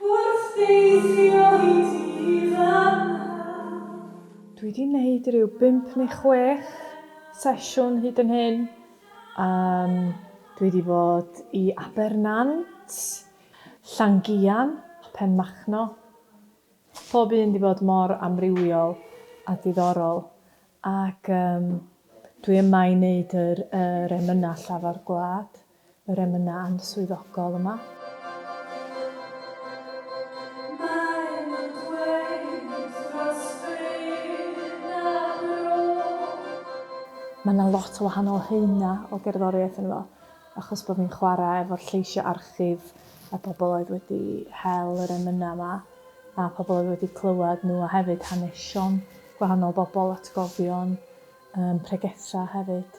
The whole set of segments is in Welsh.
Wrth deithio i ti fan'na. Dwi 'di neud ryw bump neu chwech sesiwn hyd yn hyn. Yym, dwi 'di bod i Abernant, Llangian, Penmachno. Pob un 'di bod mor amrywiol a diddorol, ac yym, dwi yma i neud yr yr emynau llafar gwlad. yr emynau answyddogol yma. Mae yna lot o wahanol haenau o gerddoriaeth yn fo, achos bod fi'n chwarae efo'r lleisiau archif a pobl oedd wedi hel yr emynau yma, a pobl oedd wedi clywed nhw, a hefyd hanesion gwahanol bobl, atgofion, um, pregethau hefyd.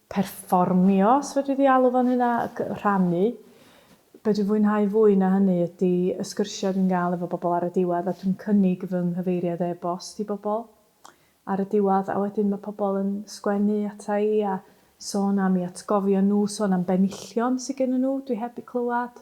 perfformio, os fedri di alw fo'n hynna, ac rhannu. Be dwi'n fwynhau fwy na hynny ydy y sgyrsiau dwi'n gael efo bobl ar y diwedd, a dwi'n cynnig fy nghyfeiriad e-bost i bobl ar y diwedd, a wedyn mae pobl yn sgwennu ata i a sôn am i atgofio nhw, sôn am benillion sy gennyn nhw dwi heb 'u clywed.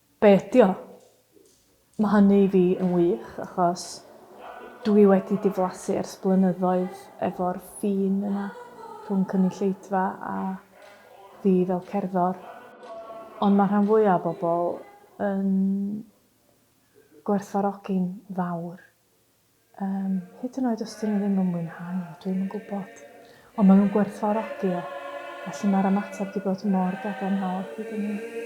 Be ydi o? Ma hynny i fi yn wych achos dw i wedi diflasu ers blynyddoedd efo'r ffin yna rhwng cynulleidfa a fi fel cerddor. Ond ma rhan fwya o bobl yn gwerthfawrogi'n fawr Yym, hyd yn oed os dyn nhw ddim yn mwynhau o, dwi'm yn gwybod. Ond maen nhw'n gwerthfawrogi o, felly mae'r ymateb wedi bod mor gadarnhaol hyd yn hyn.